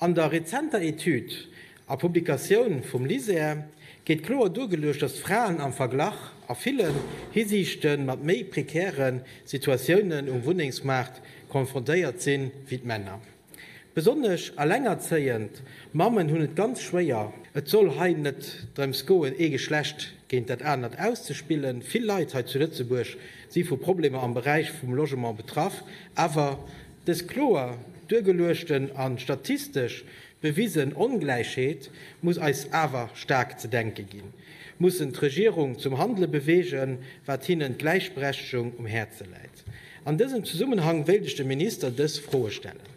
An der rezenter Etüd a Publikatioun vum LISER gétt kloer duergeluecht, datt d'Fraen am Verglach a ville Hisiichte mat méi prekäre Situatiounen um Wunnengsmaart konfrontéiert sinn, wéi d'Männer. Besonnesch elengerzéiend Mammen hunn et ganz schwéier. Et soll hei net drëms goen, ee Geschlecht géint dat anert auszespillen. Vill Leit hei zu Lëtzebuerg si vu Problemer am Beräich vum Logement betraff, awer. Dës kloer duergeluechten an statistesch bewisen Ongläichheet muss eis awer staark ze denken ginn, mussen d'Regierung zum Handelen beweegen, wat hinnen d'Gläichberechtegung um Häerzen läit. An dësem Zesummenhang wéilt ech dem Minister dës Froen stellen,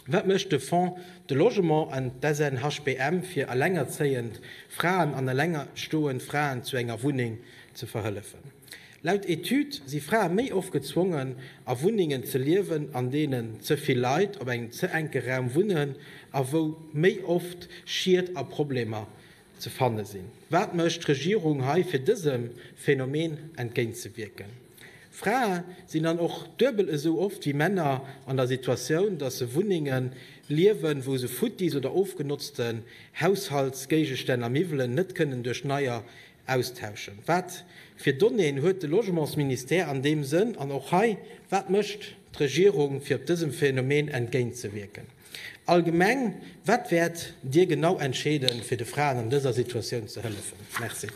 Wat mécht de Fonds de Logement an d'SNHBM fir allengerzéiend Fraen an allengestoend Fraen zu enger Wunneng ze verhëllefen? Laut Etüd si Frae méi oft gezwongen, a Wunnengen ze liewen, an deenen ze vill Leit op engem ze enke Raum wunnen a wou méi oft Schied a Problemer ze fanne sinn. Wat mécht d'Regierung hei, fir dësem Phänomen entgéintzewierken? Frae sinn dann och duebel esou oft wéi Männer an der Situatioun, datt se Wunnengen liewen, wou se futtis oder ofgenotzten Haushaltsgéigestänn a Miwwelen net kënnen duerch neier Austauschen? Wat fir Donnéeën huet de Logementsministère an deem Sënn? An och hei, wat mécht d'Regierung, fir op dësem Phänomen entgéintzewierken? Allgemeng, wat wäert Dir genau entscheeden, fir de Fraen an dëser Situatioun ze hëllefen? Merci.